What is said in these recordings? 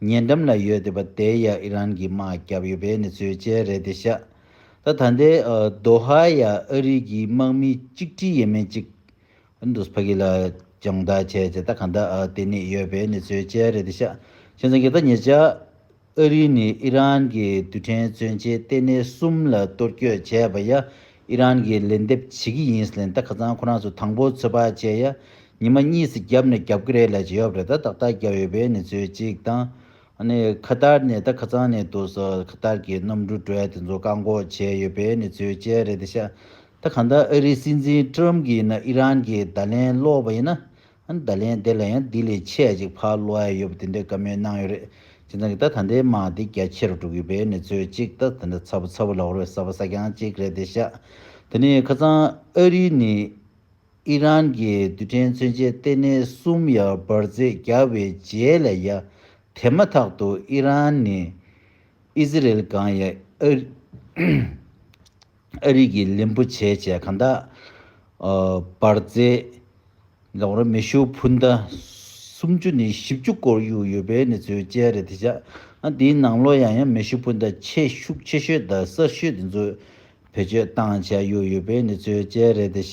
ཉེ་འགྲམ་ལ་ཡོད་དེ་པ་དེའི་ཡ་ཨི་རན་གྱི་དམག་རྒྱབ་ཡོད་པའི་གནས་ཚུལ་བཅས་རེད་དེ་ཤ་ད་ད་ལྟའི་དོ་ཧ་ཡ་ཨ་རིག་གི་དམག་མི་གཅིག་ཁྲི་ཡས་མས་ཅིག་ཨི་འདུག་ཕ་གི་ལ་སྦྱང་བརྡར་བྱས་བྱས་ད་ག་ད་དེ་ནས་ཡོད་པའི་གནས་ཚུལ་བཅས་རེད་དེ་ཤ་ཤེས་ཚང་གི་ད་ཉེ་ཆར་ཨ་རིག་ནས་ཨི་རན་གྱི་རྡུལ་ཕྲན་མཚོན་ཆའི་ལྟེ་གནས་གསུམ་ལ་གཏོར་བསྐྱོད་བྱས་པ་ཡ་ཨི་རན་གྱི་ལན་འདེབས་བྱེད་ཀྱི་ཡིན་ལེན་ད་ག་ཚང་ཁོ་རང་ཚོ་དང་པོ་ཚོད་དཔག་བྱས་ཡ་ཉི་མ་གཉིས་སུ་བརྒྱབ་ནས་རྒྱབ་ཀི་རེད་ལ་ཇེ་ཡོབ་རེད་ད་ཏག་ཏག་རྒྱབ་ཡོད་པའི་ནི་ཚོད་གཅིག་དང། ནི་ཁ་དར་ནི་ད་ཁ་ཚང་ནི་འདུག་སོ་ཁ་དར་གི་གནམ་གྲུ་བྲོས་དེ་ཚོ་བཀག་འགོག་བྱས་ཡོད་པའི་ནི་ཚོད་ཅན་རེད་དེ་ཤ་ད་གང་ལྟར་ཨ་རིའི་སྲིད་འཛིན Trump གིས་ནི་ཨི་རན་གི་བརྡ་ལན་བསློགས་པ་ཡིན་ན། བརྡ་ལན་དེ་ལ་ཡང་དེ་ལས་ཆད་ཅིག་ཕར་བསློག་ཡ་ཡོད་པ་དེ་འདྲའི་བཀའ་མོལ་གནང་ཡོད་རེད་ཁྱེད་ཚང་གི་ད་ད་འདའི་དམག་དེ་རྒྱ་ཆེ་རུ་འགྲོ་གི་པའི་ནི་ཚོད་གཅིག་ད་དེ་འདྲ་ཚ་བོ་ཚ་བོ་ལ་བོར་བའི་ས་བ་ས་གྱང་གཅིག་རེད་དེ་ཤ་ད་ནི་ཁ་ཚང་ཨ་རིའི་ནི། ཨི་རན་གྱི་རྡུལ་ཕྲན་མཚོན་ཆའི་ལྟེ་གནས་གསུམ་ཡར་འབར་རྫས་བརྒྱ་བའི་རྗེས་ལ་ཡ་དེ་མ་ཐག་ཏུ་ཨི་རན་ནས་ཨི་ཟི་རེལ་སྒང་ཡ་ཨ་རི་གི་ལིན་པོ་ཆེ་བཅས་གང་དག་འབར་རྫས་སྒང་ར་མེ་ཤུགས་འཕུར་མདའ་སུམ་ཅུ་ནས་བཞི་བཅུ་སྐོར་གཡུགས་ཡོད་པའི་གནས་ཚུལ་བཅས་རེད་དེ་ཆ་འདིའི་ནང་ལོ་ཡང་ཡང་མེ་ཤུགས་འཕུར་མདའ་ཆེས་ཤུགས་ཆེ་ཤོས་དང་གསར་ཤོས་དེ་ཚོ་བེད་སྤྱོད་བཏང་བྱས་ཡོད་ཡོད་པའི་གནས་ཚུལ་བཅས་རེད་དེ།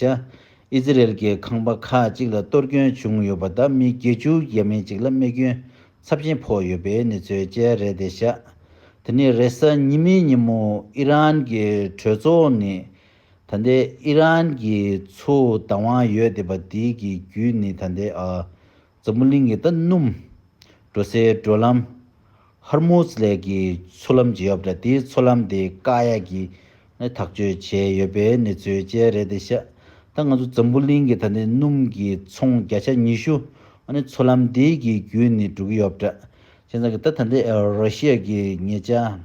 ཨི་ཟི་རེལ་གྱི་ཁང་པ་ཁག་ཅིག་ལ་གཏོར་སྐྱོན་བྱུང་ཡོད་པ་དང་མི་བརྒྱད་ཅུ་ཡས་མས་ཅིག་ལ་རྨས་སྐྱོན་ཚབས་ཆེན་ཕོག་ཡོད་པའི་གནས་ཚུལ་བཅས་རེད་དེ། དེ་ནི་རེས་གཟའ་ཉི་མའི་ཉིན་མོ་ཨི་རན་གྱི་གྲོས་ཚོགས་ནས་ད་ལྟའི་ཨི་རན་གྱི་མཚོའུ་བདག་དབང་ཡོད་བསྡད་པ་དེའི་གི་བརྒྱུད་ནས་ད་ལྟའི་ཨ་འཛམ་བུ་གླིང་གི་རྟ་སྣུམ། འགྲོ་སའི་བགྲོད་ལམ། ཧར་མུ་ཛ་ལས་ཀྱི་མཚོ་ལམ་བརྗེ་ཡོད་པ་རེད་དེའི་མཚོ་ལམ་དེ་བཀག་ཡ་གི་ནས་ཐག་གཅོད་བྱས་ཡོད་པའི་གནས་ཚུལ་བཅས་རེད་དེ་ཤ་ད་ང་ཚོ་འཛམ་བུ་གླིང་གི་ད་ནི་སྣུམ་གྱི་ཚོང་བརྒྱ་ཆ་ཉི་ཤུ་ཨ་ནི་མཚོ་ལམ་དེའི་གི་བརྒྱུད་ནས་འགྲོ་གི་ཡོད་པ་རེད་ཅེས་ད་གི་ད་ད་ནི་ར་ཤི་ཡ་གི་ཉེ་ཆ།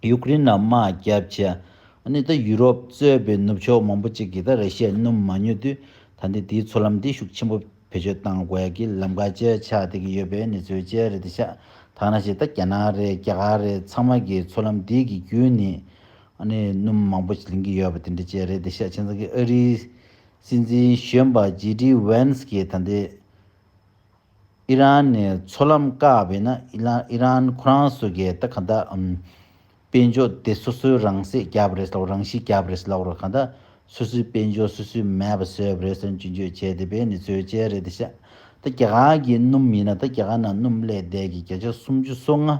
ཡུཀ་རེན་ལ་དམག་རྒྱག་བྱས། ནི་ད་ཡུ་རོབ་གཙོས་པའི་ནུབ་ཕྱོགས་མང་པོ་ཅིག་གིས་ད་ར་ཤི་ཡ་སྣུམ་མ་ཉོ་དུས་ད་འདི་དེའི་འཚོ་ལམ་དེ་ཤུགས་ཆེན་པོ་བེད་སྤྱོད་བཏང་དགོས་ཡ་གི་ལམ་ཁ་བཅད་ཆགས་བསྡད་ཀྱི་ཡོད་པའི་ནི་ཚོའི་བཅད་རེད་དེ་ཤ་ཐག་ན་ཤི་ད་རྒྱ་ནག་རེད་རྒྱ་གར་རེད་ཚང་མ་གིས་འཚོ་ལམ་དེ་གི་བརྒྱུད་ནི་ནི་སྣུམ་མང་པོ་ལེན་གྱི་ཡོད་པ་དེ་འདྲ་བཅད་རེད་དེ་ཤ་ཆེན་ཚང་གིས་ཨ་རིའི་སྲིད་འཛིན་གཞོན་པ་ཇེ་ཏི་ཝེན་སི་གིས་ད་འདི། ཨི་རན་ནས་མཚོ་ལམ་བཀག་པས་ན་ཨི་རན་ཁོ་རང་སོ་གས་ད་ག་འདའ་འམ། དཔེ་འཇོག་དེ་སོ་སོའི་རང་སྲེག་རྒྱབ་པ་རེད་ལགས་རང་ཤི་རྒྱབ་པ་རེད་ལགས་རོ་ག་འདའ་སོ་སོའི་དཔེ་འཇོག་སོ་སོའི་མེད་པ་བཟོས་པ་རེད་སོ་འཇུ་འཇོད་བྱས་དེ་པས་ནི་ཚོའི་དཔྱལ་རེད་དེ་ཤ་ད་རྒྱ་གར་གི་སྣུམ་ཡིན་ན་ད་རྒྱ་གར་ན་སྣུམ་བསླས་བསྡད་གི་བརྒྱ་ཆ་སུམ་ཅུ་སོ་ལྔ་ཨ་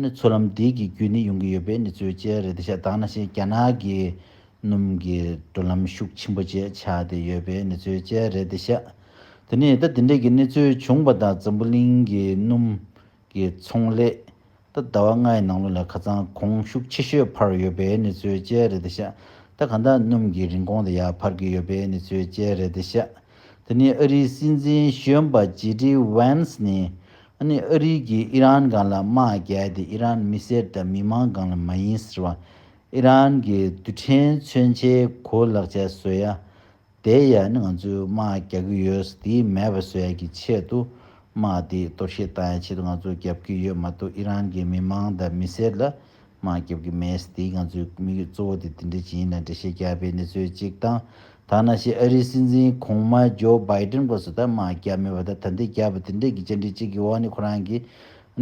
ནི་མཚོ་ལམ་འདི་གི་རྒྱུ་ནི་ཡོང་གི་ཡོད་པས་ནི་ཚོའི་དཔྱལ་རེད་དེ་ཤ་དག་ན་ཤེས་རྒྱ་ནག་གི་སྣུམ་གི་འགྲོ་ལམ་ཤུགས་ཆེན་པོ་བཅས་ཆགས་དེ་ཡོད་པས་ནི་ཚོའི་དཔྱལ་རེད་དེ་ཤ། དེ་ནས་རྟ་དེ་འདྲེག་གི་གནས་ཚུལ་བྱུང་བ་དང་འཛམ་བུ་གླིང་གི་སྣུམ་གྱི་ཚོང་ལས་རྟ་ཟླ་བ་ལྔའི་ནང་ལོ་ལ་ཁ་ཚང་གོང་ཤུགས་ཆེ་ཤོས་འཕར་ཡོད་པའི་གནས་ཚུལ་བཅས་རེད་དེ་ཤ་རྟ་ག་འདྲ་སྣུམ་གྱི་རིན་གོང་དེ་ཡག་འཕར་གྱི་ཡོད་པའི་གནས་ཚུལ་བཅས་རེད་དེ་ཤ་དེ་ནི་ཨ་རིའི་སྲིད་འཛིན་གཞོན་པ་ཇེ་ཏི་ཝན་སི་ནི་ཨ་ནི་ཨ་རིའི་གིས་ཨི་རན་སྒང་ལ་དམག་རྒྱལ་དེ་ཨི་རན་མི་སེར་དང་མི་མང་སྒང་ལ་མ་ཡིན་ཟེར་བ་ཨི་རན་གྱི་རྡུལ་ཕྲན་མཚོན་ཆའི་གོ་ལག་ཆད་བཟོས་ཡ་དེའི་ཡ་ནི་ང་ཚོས་དམག་རྒྱག་གི་ཡོད་ཟེར་དེ་མེད་པ་བཟོས་ཡ་གི་ཆེད་དུ་དམག་དེ་སྟོབས་བཤད་བཏང་ཡ་ཆེད་དུ་ང་ཚོ་རྒྱབ་ཀྱི་ཡོད་མ་གཏོགས་ཨི་རན་གྱི་མི་མང་དང་མི་སེར་ལ་དམག་རྒྱབ་ཀྱི་མེད་ཟེར་དེ་ང་ཚོའི་དམིགས་ཡུལ་གཙོ་བོ་དེ་དེ་འདྲ་ཅིག་ཡིན་ལ་འགྲེལ་བཤད་རྒྱག་པའི་གནས་ཚུལ་གཅིག་དང་ཐ་ན་ཤི་ཨ་རིའི་སྲིད་འཛིན་གོང་མ་ཇོ་བྷའི་དྲན་སྐོར་སོགས་ད་དམག་རྒྱབ་མེད་པ་དང་ད་འདི་རྒྱབ་པ་དེ་འདྲ་གི་བཅར་འདྲི་གཅིག་གི་འོག་ནས་ཁོ་རང་གི་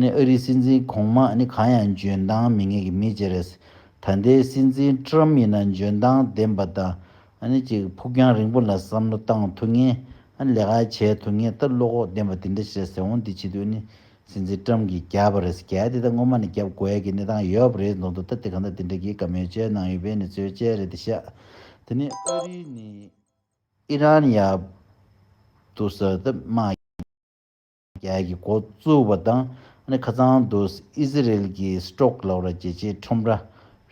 ཨ་རིའི་སྲིད་འཛིན་གོང་མ་ནི་གང་ཡང་འཇོན་ཐང་མི་ངེས་ཀྱི་མི་ཅིག་རེད་ཟེར་ད་ལྟའི་སྲིད་འཛིན་ཀྲུམ་ཡིན་ན་འཇོན་ཐང་ལྡན་པ་དང་གཅིག་ཕུགས་རྒྱང་རིང་པོ་ལ་བསམ་བློ་བཏང་ཐུབ་ངེས། ལས་ཀ་བྱས་ཐུབ་ངེས་སྟབས་བློ་ཁོག་ལྡན་པ་འདི་འདྲ་བྱས་ཟེར་འོང་འདི་བྱེད་དུས་ནི་སྲིད་འཛིན་ཀྲམ་གྱིས་རྒྱབ་པ་རེད་ཟེར་གལ་ཏེ་ད་སྔོན་མ་ནས་རྒྱབ་དགོས་ཀྱི་གནས་སྟངས་ཡོད་པ་རེད་མདོག་མདོག་ལྟ་དེ་གང་ལྟར་འདི་འདྲ་གྱི་ག་མེད་བཅོས་གནང་ཡོད་པས་ནི་རྩོད་བཅད་རེད་དེ་ཤག་དེ་ནི་ཨ་རི་ནི། ཨི་རན་ཡག་ཏུ་ཟེར་ཏེ་སྨྲ། རྒྱལ་གྱི་འགོ་བཙུགས་པ་དང་ཁ་ཚང་དུ་ཨི་ཟི་རེལ་གྱི Strock ལ་བ་ར་རྒྱལ་སྤྱིའི་ཁྲོམ་ར་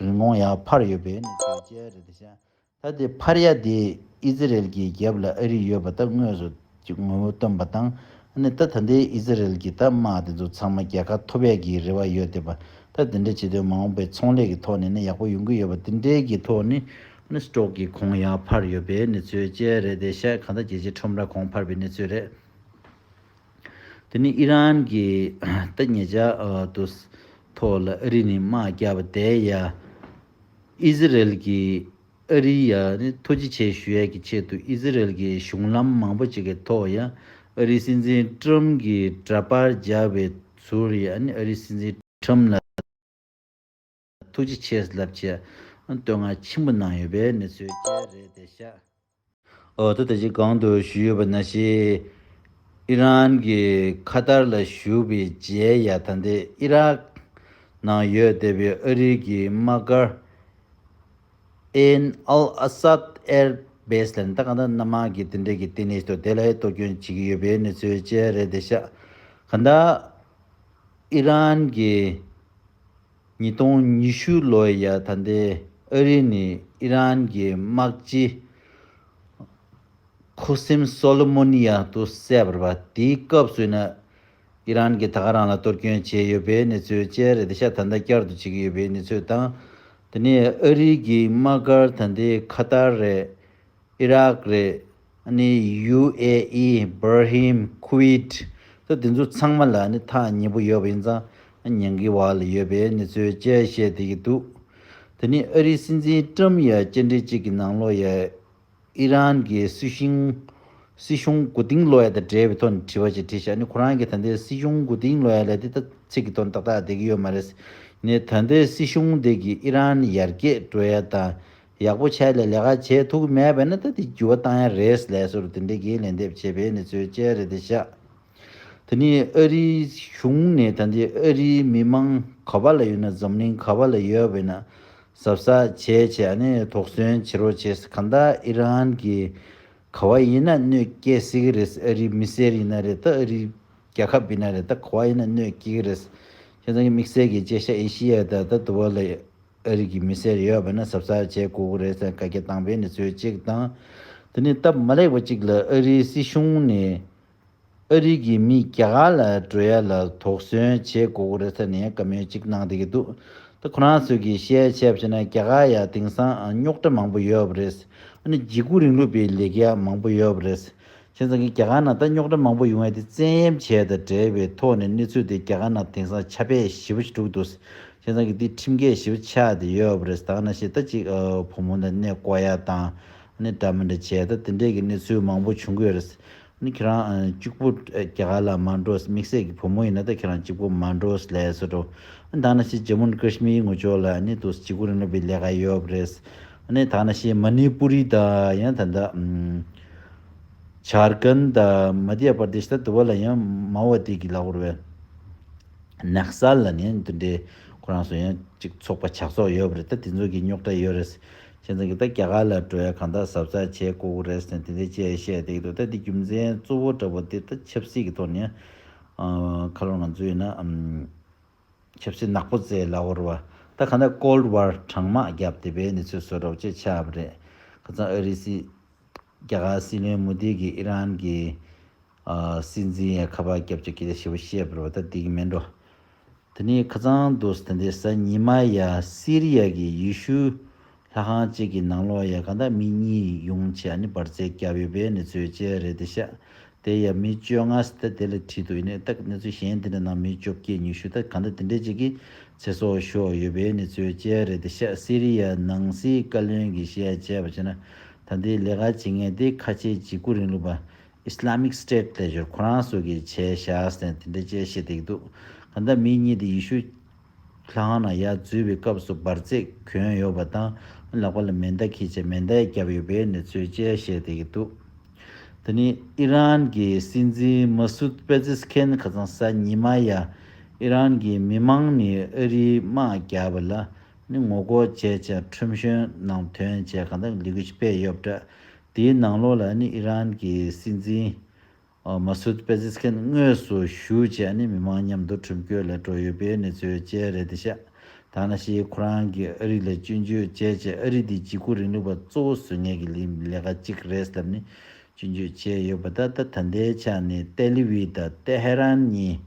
རིན་གོང་ཡར་འཕར་ཡོད་པས་ནི་གྱོད་རྒྱལ་རེད་དེ། ད་དེ་འཕར་ཡ་དེས་ཨི་ཟི་རེལ་གྱི་རྒྱབ་ལ་ཨ་རི་ཡོད་པ་ད་དངོས་སུ་ཀྱི་ངོ་བོ་སྟོན་པ་དང་ད་ད་ལྟའི་ཨི་ཟི་རེལ་གྱི་ད་དམག་དེ་ཚོ་ཚང་མ་རྒྱལ་ཁ་ཐོབ་ཡ་གྱི་རེ་བ་ཡོད་དེ་པ་ད་དེ་འདྲ་བྱེད་དོན་མ་འོངས་པའི་ཚོང་ལས་ཀྱི་ཐོག་ནས་ནི་ཡག་པོ་ཡོང་གི་ཡོད་པ་དེ་འདྲའི་གྱི་ཐོག་ནི Strock གྱི་གོང་ཡར་འཕར་ཡོད་པས་ནི་གྱོད་རྒྱལ་རེད་དེ། གང་ད་རྒྱལ་སྤྱིའི་ཁྲོམ་ར་གོང་འཕར་བའི་གནས་ཚུལ་རེད། དེ་ནི་ཨི་རན་གྱི་ཏི་ཉེ་ཅག་ཏུ་ཐོག་ལ་ཨ་རི་ནས་དམག་རྒྱག་པ་དེ་ཡ། ཨི་ཟི་རེལ་གྱིས་ཨ་རི་ཡ་ནི་ཐུགས་རྗེ་ཆེ་ཞུ་ཡས་ཀྱི་ཆེད་དུ་ཨི་ཟི་རེལ་གྱི་གཞུང་ལམ་མང་པོ་ཅིག་གི་ཐོག་ཡ། ཨ་རིའི་སྲིད་འཛིན་ཀྲུམ་གྱི་འདྲ་པར་རྒྱག་པའི་ཟུར་ཡ་ཨ་རིའི་སྲིད་འཛིན་ཀྲུམ་ལ། ཐུགས་རྗེ་ཆེ་ལབ་ཀྱི་བསྟོད་བསྔགས་ཆེན་པོ་གནང་ཡོད་པའི་གནས་ཚུལ་ཅི་རེད་བལྟས་ཤག། འོ་ད་ད་ཅི་གང་དུ་བཞུགས་ཡོད་པ་ན་ཤེས། ཨི་རན་གྱི་ཁ་ཏར་ལ་བཞུགས་པའི་རྗེ་ཡ་ད་འདི་ཨི་རག་ནང་ཡོད་བལྟས་པའི་ཨ་རིའི་གི་དམག་སྒར། Ain Al Asad Air Base ལ་ནི་ད་གང་ད་སྣ་མང་གི་དེ་འདྲས་གི་ལྟེ་གནས་ཏོ་དེ་ལ་ཡི་གཏོ་སྐྱོན་བྱེད་ཀྱི་ཡོད་པའི་གནས་ཚུལ་ཅི་རེད་བལྟས་ཤག། གང་ད་ཨི་རན་གི་ཉིས་སྟོང་ཉི་ཤུ་ལོའི་ཡར་ད་ལྟའི་ཨ་རི་ནི་ཨི་རན་གྱི་དམག་སྤྱི་ཁུ་སིམ་སོ་ལི་མོ་ནི་ཡ་དུ་བསད་པར་བ་དེའི་སྐབས་སུ་ཨི་རན་གྱིས་ད་ག་རང་ལ་གཏོར་སྐྱོན་བྱས་ཡོད་པའི་གནས་ཚུལ་བཅས་རེད་ད་ཆ་ད་ལྟ་བསྐྱར་དུ་བྱེད་ཀྱི་ཡོད་པའི་གནས་ཚུལ་དང་དེ་ནི་ཨ་རི་གྱི་དམག་སྒར་ད་ལྟའི་ཁ་ཏར་རེད། ཨི་རག་རེད། ནི་ཡུ་ཨེ་ཨི། བྷར་ཧིམ། ཁུ་ཝེད། ད་དེ་ཚོ་ཚང་མ་ལ་ནི་ཐག་ཉེ་པོ་ཡོད་པ་ཡིན་ཙང་ཉན་གི་བ་ལ་ཡོད་པའི་ནི་ཚོའི་དཔྱད་བཤད་བསྡད་ཀྱི་འདུག་དེ་ནི་ཨ་རིའི་སྲིད་འཛིན་ཀྲམ་ཡ་དཔྱད་འབྲས་གཅིག་གི་ནང་ལོ་ཡ་ཨི་རན་གྱི་སྲིད་ཞིང་སྲིད་གཞུང་གོ་དིང་ལོ་ཡ་དང་འབྲེལ་བའི་ཐོག་ནས་དྲི་བ་ཅིག་དྲིས་ཤག་ནི་ཁོ་རང་གི་ད་ལྟའི་སྲིད་གཞུང་གོ་དིང་ལོ་ཡ་ལ་དེ་ད་ཚིག་གི་དོན་ཏག་ཏག་བསྡད་ཀྱི་ཡོད་མ་རེད། ནི་ད་ལྟའི་སྲིད་གཞུང་འདི་གི་ཨི་རན་ཡར་རྒྱས་འགྲོ་ཡ་དང་ཡག་པོ་བྱས་ལས་ལས་ཀ་བྱེད་ཐུག་གི་མེད་པས་ན་ད་དེ་འགྱུར་བ་བཏང་ཡ་རེད་ལས་སོ་རུ་དེ་འདྲའི་འགན་ལེན་འདེབས་བྱེད་པའི་ནི་ཚོའི་དཔྱད་རེད་དེ་བཞག་དེ་ནི་ཨ་རིའི་གཞུང་ནས་ད་འདི་ཨ་རིའི་མི་དམངས་ག་བ་ལ་ཡོད་ན་འཛམ་གླིང་ག་བ་ལ་ཡོད་པས་ན་ཟབ་ས་བྱས་བྱས་ཨ་ནི་དོགས་ཟོན་བྱེད་རོགས་བྱས་ས་ག་ད་ཨི་རན་གི་ག་བ་ཡིན་ན་གནོད་སྐྱེལ་སྲིད་གི་རེད་ཨ་རིའི་མི་སེར་ཡིན་ན་རེད་ད་ཨ་རིའི་རྒྱ་ཁབ་ཡིན་ན་རེད་ད་ག་བ་ཡིན་ན་གནོད་སྐྱེལ་གི་རེད་ཁྱེད་རང་གི་དམིགས་བསལ་གི་དཔྱད་ཞྭ་ཨེ་ཤི་ཡ་ད་ད་དུ་བ་ལ་ཡོད། ཨ་རིག་གི་མི་སེར་ཡོད་པ་ནི་ཟབ་སར་བྱས་དགོས་གི་རེད་ཟེར་བཀའ་རྒྱ་བཏང་པའི་གནས་ཚུལ་གཅིག་དང། དེ་ནས་སྟབས་མ་ལེགས་པ་གཅིག་ལ་ཨ་རིའི་སྲིད་གཞུང་ནས་ཨ་རིག་གི་མི་རྒྱ་གར་ལ་འགྲོ་ཡ་ལ་དོགས་ཟོན་བྱས་དགོས་གི་རེད་ཟེར་ནས་བཀའ་མོལ་གཅིག་གནང་བསྡད་ཀྱི་འདུག་ད་ཁོ་རང་ཚོས་ཀྱི་བཤད་བྱས་བྱས་ན་རྒྱ་གར་ཡ་དེང་སང་རྙོག་དྲ་མང་པོ་ཡོད་པ་རེད། ཨ་ནི་འཇིགས་སྐུལ་རིང་ལུགས་པའི་ལས་ཀ་ཡ་མང་པོ་ཡོད་པ་རེད། ཁྱེད་ཚང་གི་རྒྱ་གར་ནང་རྟ་རྙོག་དྲ་མང་པོ་ཡོང་ཡ་དེ་བཙན་གཡེམ་བྱས་དང་བྲལ་བའི་ཐོག་ནས་གནས་ཚུལ་དེ་རྒྱ་གར་ནང་དེང་སང་ཆ་བེད་ཞི་བ་ཞིག་དཀྲུག་འདུག་ཁྱེད་ཚང་གི་དེ་ཁྲིམས་འགལ་ཞི་བ་ཆགས་དེ་ཡོད་པ་རེད་དང་ན་ཤེས་རྟ་གཅིག་བུ་མོ་དང་གནས་བསྐོ་ཡ་དང་ནས་འདྲ་མི་འདྲ་བྱས་དང་དེ་འདྲས་གི་གནས་ཚུལ་མང་པོ་བྱུང་གི་ཡོད་རེད་ཁྱེད་རང་གཅིག་པུ་རྒྱ་གར་ལ་མ་འགྲོ་དམིགས་བསལ་གི་བུ་མོ་ཡིན་ན་དང་ཁྱེད་རང་གཅིག་པུ་མ་འགྲོ་ལས་སོ་དྲོ་དང་ན་ཤེས་ཇམུ་ན་ཀརྱི་མིའི་ངོ་ཅོག་ལ་ནས་དུ་སི་གུ་རིན་ལ་བའི་ལས་ཀ་ཡོད་པ་རེད་ནས་དང་ན་ཤེས་མ་ནི་པུ་རི་དང་ཡང་ད་ལྟ་ཆར་ཀན་ད་མ་དྷི་ཡ་པར་དེ་ཤི་ད་དུ་བ་ལ་ཡང་མ་བ་ཏི་གི་ལ་བོར་བའི་ནགས་ས་ལ་ནི་འདི་འདྲའི་ཁོ་རང་སུ་ཡང་ཅིག་ཚོགས་པ་ཆགས་ཚོགས་ཡོད་རེད་ད་དེ་ཚོ་གི་རྙོག་དྲ་ཡོད་རེད། ཁྱེད་ཚང་གི་ད་རྒྱ་གར་ལ་འགྲོ་ཡ་གང་དག་ཟབ་ཚགས་བྱས་ཀོ་ཀོ་རེས་ནས་དེ་འདྲའི་བྱས་བཤད་དེ་གི་འདུག་ད་འདི་རྒྱུ་མཚན་གཙོ་བོ་འདྲ་བོ་དེ་ད་ཆབ་སྲིད་ཀི་ཐོག་ནས་ཨ་ཁ་ལོ་ང་ཚོ་ཡིན་ན་ཆབ་སྲིད་ནག་པོ་རྩའི་ལ་བོར་བ། ད་ག་ནས Cold War གྲང་དམག་བརྒྱབ་བདེ་པའི་གནས་ཚུལ་བཟོ་རོགས་ཅེས་ཆ་བབ་རེད། ཁ་ཚང་ཨ་རི་སྲིད། རྒྱ་གར་སྲིད་བློན་མུ་དྷི་གིས་ཨི་རན་གྱི། སྲིད་འཛིན་ཡའི་ཁ་པར་བརྒྱབ་ཆོག་གི་ལས་བྱེད་པོ་བཤད་བར་བ་ད་དེ་གི་མེད་འགྲོ། དེ་ནས་ཁ་ཚང་དུས་ད་ལྟའི་གཟའ་ཉི་མ་ཡ་སི་རི་ཡ་གི་ཡི་ཤུ་ལྷ་ཁང་གཅིག་གི་ནང་ལོགས་ཡ་ག་འདྲ་མིན་གཉིས་ཡོང་ཆེ་ཡ་ནི་འབར་རྫས་བརྒྱབ་ཡོད་པའི་གནས་ཚུལ་བཅས་རེད་དེ་ཤ་དེ་ཡ་མི་བཅོ་ལྔ་སྟེ་དེ་ལ་ཁྲི་དུ་ཡི་ནས་སྟག་གནས་ཚུལ་གཞན་དེ་འདྲ་ནང་མི་བཅོ་བརྒྱད་ཉི་ཤུ་སྟེ་ག་འདྲ་དེ་འདྲས་གཅིག་གི་ཚེ་སྲོག་ཤོར་ཡོད་པའི་གནས་ཚུལ་བཅས་རེད་དེ་ཤ་སི་རི་ཡ་ནང་སྲིད་བཀའ་བློན་གྱི་བཤད་བྱས་པ་བྱས་ན་ད་འདི་ལས་ཀ་བྱེད་མཁན་དེ་ཁ་ཆེ་འཇིགས་སྐུ་རིང་ལུགས་པ Islamic State ལས་ཞོར་ཁོ་རང་སོགས་ཀྱི་བྱས་བཞག་ཟེར་ན་དེ་འདྲས་བཅས་བཤད་དེ་གི་འདུག་ག་འདྲ་མིན་གཉིས་དེ་ཡི་ཤུ། ལྷ་ཁང་ནང་ཡར་འཛུལ་བའི་སྐབས་སུ་འབར་རྫས་གྱོན་ཡོད་པ་དང་ལག་པ་ལ་མེ་མདའ་ཁེལ་ཆེད་མེ་མདའ་ཡང་བརྒྱབ་ཡོད་པའི་གནས་ཚུལ་བཅས་བཤད་བསྡད་ཀྱི་འདུག་འདི་ནི་ཨི་རན་གྱི་སྲིད་འཛིན་མཱ་སུད་པེ་ཛེ་སི་ཁན་ཁ་སང་གཟའ་ཉི་མ་ཡར་ཨི་རན་གྱི་མི་མང་ནས་ཨ་རིའི་དམག་རྒྱག་པ་ལ་ནི་ངོ་རྒོལ་བྱས་ཅིང་ཁྲིམས་གཞོན་ནང་དོན་བཅས་གང་དག་ལས་འགུལ་ཞིག་སྤེལ་ཡོད་པ་འདྲ། དེའི་ནང་ལོགས་ལ་ནི་ཨི་རན་གྱི་སྲིད་འཛིན Masood Pezeshkian དངོས་སུ་ཞུགས་རྗེས་ཨ་ནེ་མི་མང་མཉམ་དུ་ཁྲིམས་བཀོད་ལས་འགྲོ་ཡོད་པའི་གནས་ཚུལ་བཅས་རེད་དེ་བཤད། ཐ་ན་ཤིའི་ཁོ་རང་གིས་ཨ་རི་ལ་སྐྱོན་བརྗོད་བྱས་རྗེས་ཨ་རི་འདི་བརྗིད་རྐུ་རིང་ལུགས་པ་གཙོ་བོ་བཟོས་ངེས་ཀྱི་ལས་ཀ་གཅིག་རེད་ཟེར་ནས་སྐྱོན་བརྗོད་བྱས་ཡོད་པ་ད་ལྟ་ད་ལྟའི་ཆ་ནས་ཏེ་ལི་བྷི་དང་ཏེ་ཧེ་རན་གཉིས་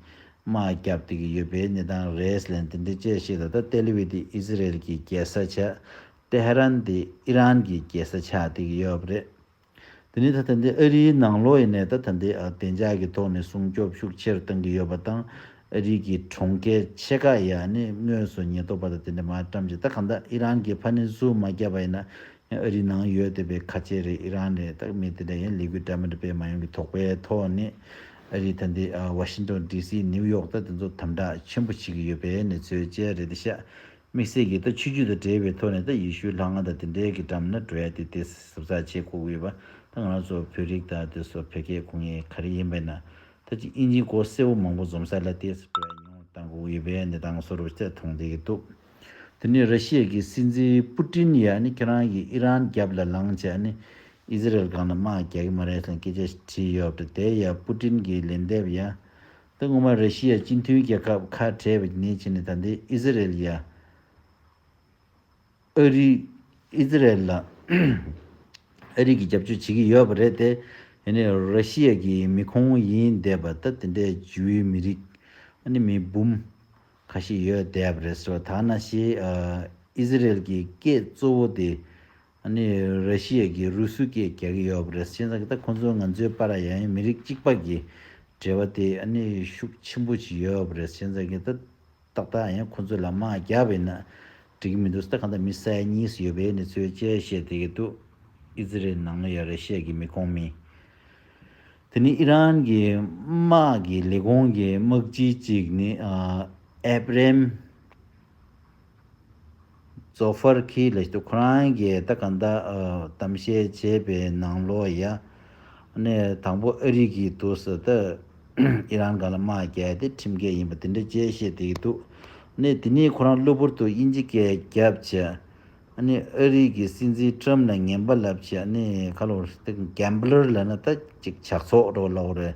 དམག་རྒྱག་བསྡད་ཀྱི་ཡོད་པའི་གནས་སྟངས་རེད་ལན་དེ་འདྲའི་དཔྱད་ཤེས་ད་ལྟ་ཏེ་ལི་བྷི་དེ་ཨི་ཟི་རེལ་གྱི་རྒྱལ་ས་ཆགས་ཏེ་ཧེ་རན་དེ་ཨི་རན་གྱི་རྒྱལ་ས་ཆགས་བསྡད་ཀྱི་ཡོད་རེད། དེ་ནི་ད་ཐེངས་འདི་ཨ་རིའི་ནང་ལོགས་ཡིན་ནས་ད་ཐེངས་འདི་བདེ་འཇགས་ཀྱི་ཐོག་ནས་སྲུང་སྐྱོབ་ཤུགས་ཆེར་གཏང་གི་ཡོད་པ་དང་ཨ་རིའི་གི་གྲོང་ཁྱེར་ཕྱེད་ཀ་ཡ་ནི་དངོས་སུ་ཉེན་རྟོག་པ་དང་དེ་འདྲ་མ་བཀྲམ་ཅིག་ད་གང་ལྟར་ཨི་རན་གྱི་ཕ་ནི་བཟུང་མ་རྒྱབ་པ་ཡིན་ན་ཡང་ཨ་རིའི་ནང་ཡོད་བསྡད་པའི་ཁ་ཆེ་རེད་ཨི་རན་རེད་ད་མི་དེ་འདྲ་ཡང་ལས་འགུལ་འདྲ་མི་འདྲ་སྤེལ་མ་ཡོང་གི་དོགས་པའི་ཐོག་ནས་ཨ་རིའི་ད་འདི་ཝ་ཤིང་ཏོན་ཏི་སི་ནིའུ་ཡོག་ད་དེ་ཚོ་དམ་དྲག་ཆེན་པོ་བྱེད་ཀྱི་ཡོད་པའི་ནི་ཚོད་ཅལ་རེད་ཤག་དམིགས་བསལ་གྱིས་ད་ཆོས་རྒྱུད་དང་འབྲེལ་བའི་ཐོག་ནས་ད་ཡེ་ཤུའི་ལྷ་ང་དང་དེ་འདྲའི་གི་འགྲམ་ན་འགྲོ་ཡ་དེ་དེ་ཟབ་ཚགས་ཆེ་ཁུག་འོས་པ་ད་ང་རང་ཚོ་བོད་རིགས་དང་དེ་སོ་བོད་སྐད་གོ་ངེས་ག་རེ་ཡིན་པའི་ན་ད་ཅི་ཨིན་ཇིའི་གོ་གསལ་བོ་མང་པོ་འཛོམས་ས་ལ་དེ་འགྲོ་ཡ་ཉུང་གཏང་ཁུག་འོས་པའི་གནས་སྟངས་སོ་རུ་ད་མཐོང་བསྡད་གི་འདུག་དེ་ནས་ར་ཤི་ཡ་གི་སྲིད་འཛིན་པུ་ཏིན་ཡ་ནི་ཁྱེད་རང་གི་ཨི་རན་རྒྱབ་ལ་ལངས་ཆ་ནི་ཨི་ཟི་རལ་སྒང་ན་དམག་རྒྱག་གི་མ་རེད་ལ་སྐད་ཆ་བྲིས་ཡོད་པ་དེ་ཡ་པུ་ཏིན་གི་ལན་འདེབས་ཡ་ད་སྔོན་མ་རེ་ཤི་ཡའི་སྤྱི་མཐུན་རྒྱལ་ཁབ་ཁ་བྲལ་བའི་ཉིན་བྱས་ནས་ད་ལྟའི་ཨི་ཟི་རེལ་ཡ། ཨ་རི། Israel། ལ་ཨ་རི་གིས་རྒྱབ་སྐྱོར་བྱེད་ཀྱི་ཡོད་པ་རེད་དེ། ཡང་ན་རེ་ཤི་ཡ་གི་མི་ཁོང་ཡིན་བསྡད་པ་ད་དེ་འདྲའི་ཇུའི་མི་རིགས། ཨ་ནི་མི་འབུམ། ཁ་ཤས་ཡོད་བསྡད་པ་རེད་ཟེར་བ་དག་ན་ཞེས་ཨི་ཟི་རེལ་གྱི་སྐད་གཙོ་བོ་དེ་ནི་ར་ཤི་ཡ་གིས་རུ་སུ་སྐད་རྒྱག་གི་ཡོད་པ་རེད་སྤྱིན་ཚག་ད་ཁོང་ཚོ་ང་ཚོའི་པ་ར་ཡ་ཡིན་མི་རིགས་གཅིག་པ་གི་འབྲེལ་བ་དེ་ནི་ཤུགས་ཆེན་པོ་ཞིག་ཡོད་པ་རེད་སྤྱིན་ཚག་གིས་ད་ཏག་ཏག་ཡང་ཁོང་ཚོ་ལ་དམག་རྒྱག་པ་ཡིན་ན་འགྲིག་གི་མི་འདུག་ད་གང་ལྟར་མི་ས་ཡ་གཉིས་སུ་ཡོད་པའི་ནི་ཚོའི་དཔྱད་བཤད་བསྡད་ཀྱི་འདུག་ཨི་ཛི་རེལ་ནང་ཡང་ར་ཤི་ཡ་གི་མི་ཁོངས་མི་དེ་ནི་ཨི་རན་གྱི་དམག་གི་ལས་ཁུངས་ཀྱི་དམག་སྤྱི་གཅིག་ནི་ཨེབ་རེམ། ཛོ་ཧྥར་གྷིས་ལ་ཁོ་རང་གིས་ད་ག་ཟླ་གཏམ་བཤད་བྱས་པའི་ནང་ལོ་ཡ་ནས་དང་པོ་ཨ་རི་གིས་དུས་སུ་ད་ཨི་རན་ག་ལ་དམག་རྒྱག་དེ་ཁྲིམས་འགལ་ཡིན་པ་དེ་འདྲ་བཅས་བཤད་དེ་ཡི་འདུག་ནས་དེ་ནས་ཁོ་རང་གློ་བུར་དུ་དབྱིན་ཇི་སྐད་རྒྱབ་བྱས་ནས་ཨ་རི་གི་སྲིད་འཛིན་ཏྲམ་ལ་ངན་པ་ལབ་བྱས་ནས་ཁ་ལོ་ཏི་གན་བླར་ལ་ན་ད་ཅིག་ཇག་ཚོགས་འགྲོ་ལོག་རེད་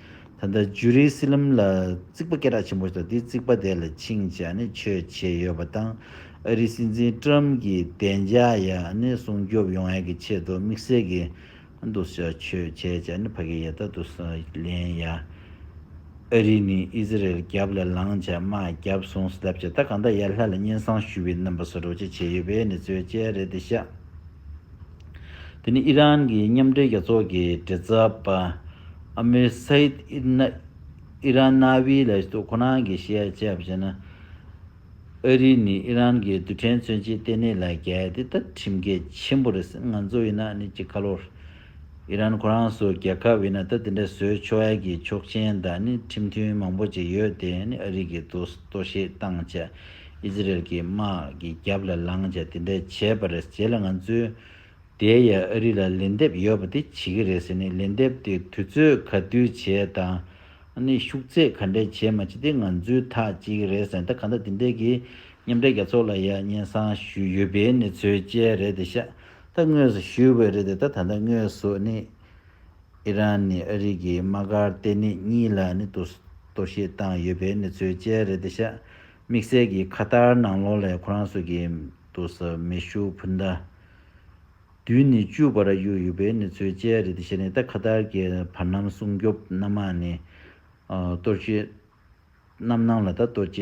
ད་ལྟ་ཇུ་རི་སི་ལམ་ལ་རྩིག་པ་སྐད་གྲགས་ཆེན་པོ་ཞིག་དང་དེའི་རྩིག་པ་དེ་ལ་ཆིངས་བྱ་ནི་ཆོས་བྱས་ཡོད་པ་དང་ཨ་རིའི་སྲིད་འཛིན་ཀྲ་རམ་གྱིས་བདེ་འཇགས་ཡ་ནི་སྲུང་སྐྱོབ་ཡོང་ཡ་གི་ཆེད་དུ་དམིགས་བསལ་གྱི་འདུ་ཤ་ཆོས་བྱས་བྱ་ནི་ཕ་གི་ཡ་ད་དུ་སུ་ལེན་ཡ། ཨ་རི་ནི་ཨི་ཟི་རལ་རྒྱབ་ལ་ལངས་བྱ་མ་རྒྱབ་སོང་སི་ལབ་བྱ་ད་གང་ད་ཡ་ལྷ་ལ་སྙན་གསང་ཞུ་བའི་རྣམ་པ་སོ་སྒྲོག་བྱ་བྱས་ཡོད་པས་ནི་རྩོད་བྱས་རེད་དེ་ཤ། དེ་ནི་ཨི་རན་གྱི་མཉམ་འབྲེལ་རྒྱལ་ཚོགས་ཀྱི་འབྲེལ་ཚབ་པ་ཨ་མིར་སཱེད་ཨི་རན་གནའ་བོའི་ལས་གཏོད་ཁོ་ན་གྱིས་བཤད་ལ་དཔྱད་པ་བྱས་ན། ཨ་རི་ནི་ཨི་རན་གྱི་རྡུལ་ཕྲན་མཚོན་བྱེད་ལྟེ་གནས་ལ་གལ་ཏེ་ལྟ་ཁྲིམས་གལ་ཆེན་པོ་རེད་ང་ཚོ་ཡིན་ན་ནི་ཀྱི་ཁ་ལོར། ཨི་རན་ཁོ་རང་སོགས་རྒྱལ་ཁབ་ཡིན་ན་ལྟ་དེ་འདྲ་བཟོས་ཆོག་ཨ་རི་གྱི་ཆོག་མཆན་དང་ནི་ཁྲིམས་མཐུན་མང་པོ་ཅིག་ཡོད་དེ་ནི་ཨ་རི་གྱི་དུས་ལྟོ་བཤད་བཏང་བྱས Israel གྱི་དམག་གི་རྒྱབ་ལ་ལངས་བྱས་དེ་འདྲས་བྱས་པ་རེད་བྱས་ལ་ང་ཚོས་དེ་ཡ་ཨ་རི་ལ་ལན་འདེབས་ཡོད་པ་དེ་བྱེད་གི་རེད་ཟེར་ནས་ལན་འདེབས་དེ་དུས་ཚོད་ག་དུས་བྱས་དང་ནི་ཤུགས་ཚད་ག་འདྲས་བྱས་མ་བྱས་དེ་ང་ཚོའི་ཐག་བཅད་གི་རེད་ཟེར་ད་ག་འདྲ་དེ་འདྲས་གི་མཉམ་འབྲེལ་རྒྱ་ཚོགས་ལ་ཡ་སྙན་སང་ཞུས་ཡོད་པའི་གནས་ཚོལ་བཅས་རེད་དེ་ཤ་ད་དངོས་སུ་ཞུས་བས་རེད་དེ་ད་ད་ལྟ་དངོས་སུ་ནི་ཨི་རན་ནི་ཨ་རི་གིས་དམག་སྒར་ལྟེ་གནས་གཉིས་ལ་ནི་གཏོར་བཤིག་བཏང་ཡོད་པའི་གནས་ཚུལ་བཅས་རེད་དེ་ཤ་མིག་སེར་གྱིས་ཁ་ཏར་ནང་ལོགས་ལས་ཁོ་རང་སུ་གིས་འདུག་ས་མེ་ཤུགས་འཕུར་མདའ་བདུན་ནི་བཅུ་བར་གཡུགས་ཡོད་པའི་གནས་ཚུལ་བཅས་རེད་དེ་ཤ་ནི་ད་ཁ་ཏར་གྱི་བར་སྣང་སྲུང་སྐྱོབ་སྣ་མང་ནི་གཏོར་བཤིག་རྣམ་སྣང་ལ་ད་གཏོར་བཅིག།